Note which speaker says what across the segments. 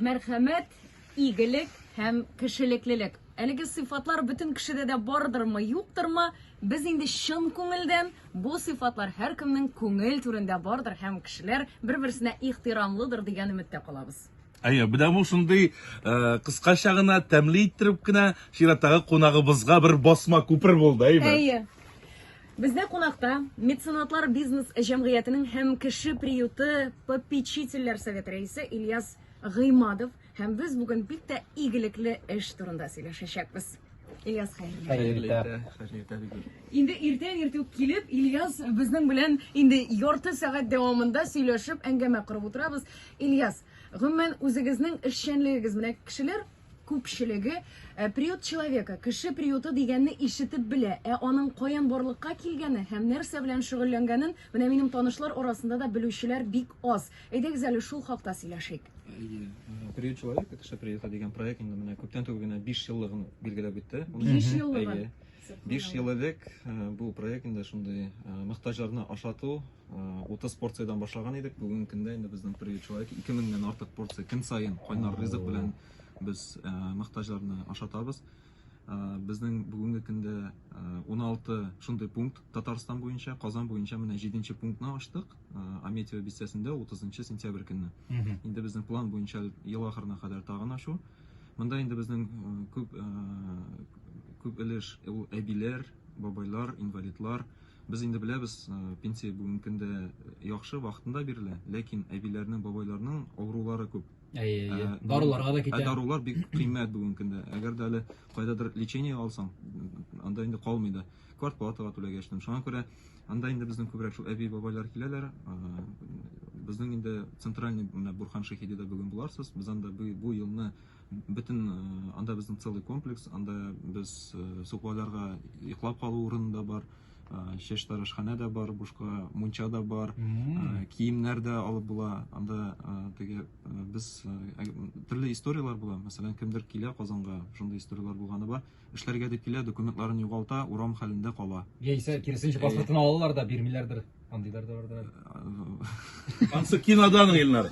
Speaker 1: Мәрхәмәт, игелек һәм кешелеклелек. Әлеге сыйфатлар бөтен кешедә дә бардырмы, юктырмы? Без инде чын күңелдән бу сыйфатлар һәркемнең күңел түрендә бардыр һәм кешеләр бер-берсенә ихтирамлыдыр дигән өметтә калабыз. Әйе, менә бу
Speaker 2: шундый э, кыскача гына, тәмле иттереп кенә чираттагы кунагыбызга бер басма күпер булды, әйеме? Әйе.
Speaker 1: Бездә кунакта Меценатлар бизнес җәмгыятенең һәм Кеше приюты попечительләр советы рәисе Ильяс Гыймадов һәм без бүген бик тә игелекле эш турында сөйләшәчәкбез. Ильяс хәерле. Хәерле иртә. Хәерле иртә бик. Инде иртән иртү килеп, Ильяс безнең белән инде ярты сәгать дәвамында сөйләшеп, әңгәмә корып утырабыз. Ильяс, гомумән үзегезнең эшчәнлегегез менә кешеләр күпчелеге э, приют человека, кеше приюты дигәнне ишетеп белә, ә аның каян барлыкка килгәне һәм нәрсә белән шөгыльләнгәнен менә минем танышлар арасында да белүчеләр бик аз. Әйдәгез әле шул хакта сөйләшик. Әйе. Э, приют
Speaker 3: человека, кеше приюты дигән проект инде менә күптән түгел генә 5 еллыгын билгеләп үтте. 5
Speaker 1: еллыгын. Әйе. 5 ел
Speaker 3: элек э, бу проект инде шундый мохтаҗларны ашату 30 порциядән башлаган идек, бүгенге көндә инде безнең приют человек 2000 дән артык порция көн саен кайнар ризык белән без э, мөхтаҗларны ашатабыз. Э, безнең бүгенге көндә 16 э, шундый пункт Татарстан буенча, Казан буенча менә 7 нче пунктны ачтык. Аметьево бистәсендә 30 сентябрь көнне. Инде безнең план буенча ел ахырына кадәр тагын ачу. Монда инде безнең күп күп өлеш ул әбиләр, бабайлар, инвалидлар, Без инде беләбез, пенсия бүгенге көндә яхшы, вакытында бирелә, ләкин әбиләрнең, бабайларның авырулары күп. Әйе, әйе. Ә, Даруларга
Speaker 4: да китә. Ә дарулар бик кыйммәт
Speaker 3: бүгенге көндә. Әгәр дә әле кайдадыр лечение алсаң, анда инде калмый да. Квартплатага түләгәчтем. Шуңа күрә анда инде безнең күбрәк шул әби бабайлар киләләр. Безнең инде центральный менә Бурхан Шаһидида бүген буларсыз. Без анда бу елны Бөтен анда безнең целый комплекс, анда без сукбайларга йоклап калу урыны да бар, чәч тарашханә дә бар, бушка мунча да бар, киемнәр дә алып була. Анда теге без төрле историяләр була. Мәсәлән, кемдер килә Казанга, шундый историяләр булганы бар. Эшләргә дип килә, документларын югалта, урам хәлендә кала. Яисә киресенчә
Speaker 4: паспортын алалар да бирмиләрдер. Андыйлар да бардыр
Speaker 2: әле. Ансы кинодан Илнар.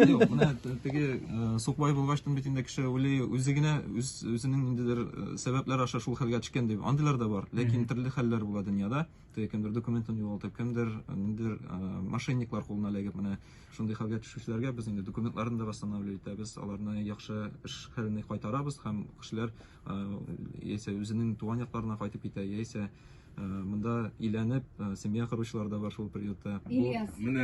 Speaker 2: Юк,
Speaker 3: менә т- теге э, сукбай булгачтын бит инде кеше уйлый, үзе генә үз үзенең ниндидер э, сәбәпләр аша шул хәлгә төшкән дип. Андыйлар да бар. Ләкин төрле хәлләр була дөньяда. кемдер документын югалтып, кемдер ниндидер мошенниклар кулына эләгеп, менә шундый хәлгә төшүчеләргә без инде документларын да восстанавливать итәбез, аларны яхшы эш хәленә кайтарабыз һәм кешеләр яисә үзенең туган якларына кайтып китә, яисә монда өйләнеп, семья
Speaker 1: коручылар
Speaker 3: да бар шул приютта. Бу менә